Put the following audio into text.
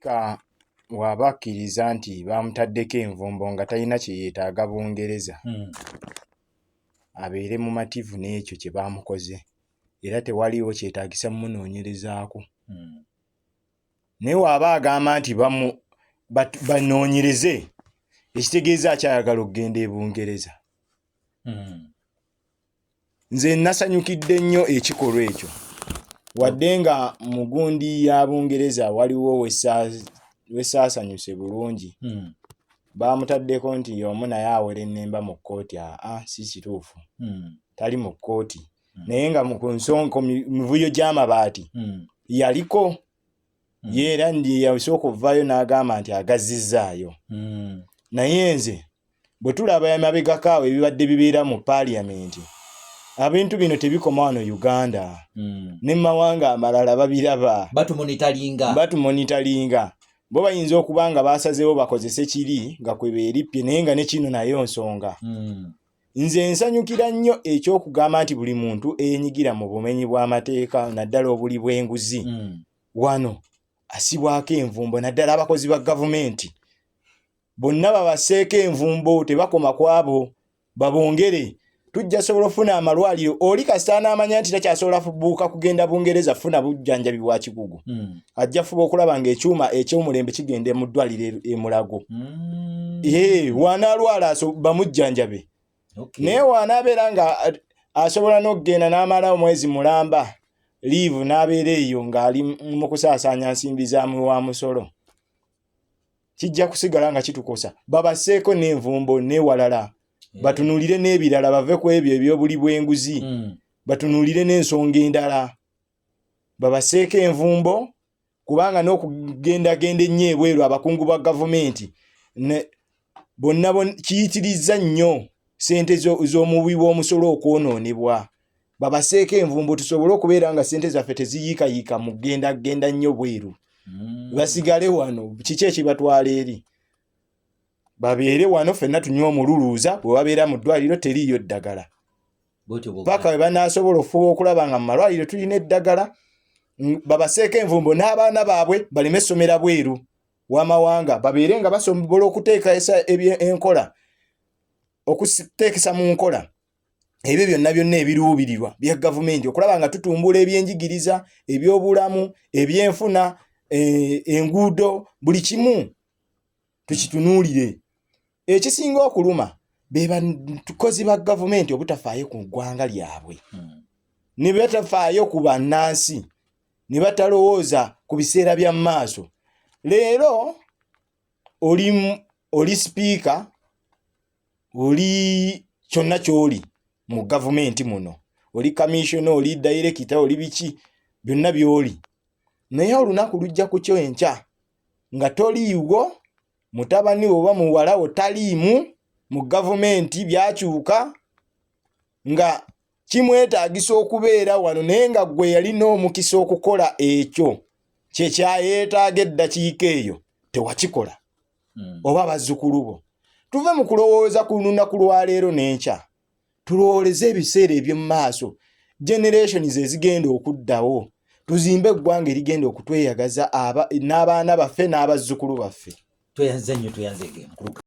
Ka waba akkiriza nti baamutaddeko envumbo nga talina kye yeetaaga Bungereza, hmm. abeere mumativu n'ekyo kye baamukoze era tewaliiwo kyetaagisa mumunoonyerezaako. Hmm. Naye waba agamba nti banoonyereze ekitegeeza akyayagala okugenda e Bungereza. Hmm. nze nasanyukidde nnyo ekikolwa ekyo wadde nga mugundi ya bungereza waliwo wesaasanyuse bulungi hmm. baamutaddeko nti omu naye awera ennemba mu kkooti aa si kituufu hmm. tali mu kkooti hmm. naye nga ku nsonko mivuyo gy'amabaati yaliko mm. ye era yeyasooka okuvaayo n'agamba nti agazizzaayo mm. naye nze bwe tulaba emabegako awo ebibadde bibeera mu paaliyamenti abintu bino tebikoma wano uganda mm. ne mu mawanga amalala babiraba batumonitalinga bo bayinza okuba nga baasazeewo bakozese kiri nga kwe beerippye naye nga ne kino nayo nsonga mm. Nze nsanyukira nnyo eky'okugamba nti buli muntu eyenyigira mu bumenyi bw'amateeka naddala obuli bw'enguzi mm. wano asibwako envumbo naddala abakozi ba gavumenti bonna babaseeko envumbo tebakoma kwabo babongere tujja sobola ofuna amalwaliro oli kasita n'amanya nti takyasobola buuka kugenda bungereza funa bujjanjabi bwa kikugu mm. ajja fuba okulaba ng'ekyuma eky'omulembe kigenda mu ddwaliro e, e mulago mm. ee wanaalwala bamujjanjabe naye wanaabeera nga asobola n'okugenda n'amala omwezi mulamba liivu n'abeera eyo ng'ali mu kusaasaanya nsimbi zaamwe wa musolo kijja kusigala nga kitukosa babaseeko n'envumbo n'ewalala mm. batunuulire n'ebirala bave ku ebyo ebyobuli bw'enguzi mm. batunuulire n'ensonga endala babaseeko envumbo kubanga n'okugendagenda ennyo ebweru abakungu ba gavumenti bonna kiyitirizza nnyo ssente z'omuwi w'omusolo okwonoonebwa babaseeko envumbo tusobole okubeera nga ssente zaffe teziyiikayiika mu kugendagenda nnyo bweru mm. basigale wano kiki ekibatwala eri babeere wano fenna tunywa omululuuza bwe babeera mu ddwaliro teriiyo ddagala paka bwe banaasobola okufuba okulaba nga mu malwaliro tulina eddagala babaseeko envumbo n'abaana baabwe baleme essomera bweru w'amawanga babeere nga basobola okuteekaesa enkola okuteekesa mu nkola ebyo byonna byonna ebiruubirirwa bya gavumenti okulaba nga tutumbula ebyenjigiriza ebyobulamu ebyenfuna eh, enguudo buli kimu tukitunuulire ekisinga okuluma bebakozi ba gavumenti obutafaayo ku ggwanga lyabwe hmm. ne batafaayo ku bannansi ne batalowooza ku biseera bya maaso leero oli oli sipiika oli kyonna ky'oli mu gavumenti muno oli kamissiona oli dayirekita oli biki byonna by'oli naye olunaku lujja ku kyo enkya nga toliiwo mutabani oba muwala wo taliimu mu gavumenti byakyuka nga kimwetaagisa okubeera wano naye nga gwe yalina omukisa okukola ekyo kyekyayeetaaga eddakiika eyo tewakikola hmm. oba bazzukulu bo tuve mu kulowooza ku lunaku lwaleero n'enkya tulowoleze ebiseera eby'omu maaso generations ezigenda okuddawo tuzimbe eggwanga erigenda okutweyagaza n'abaana baffe n'abazzukulu baffe tweyanze nnyo tweyanze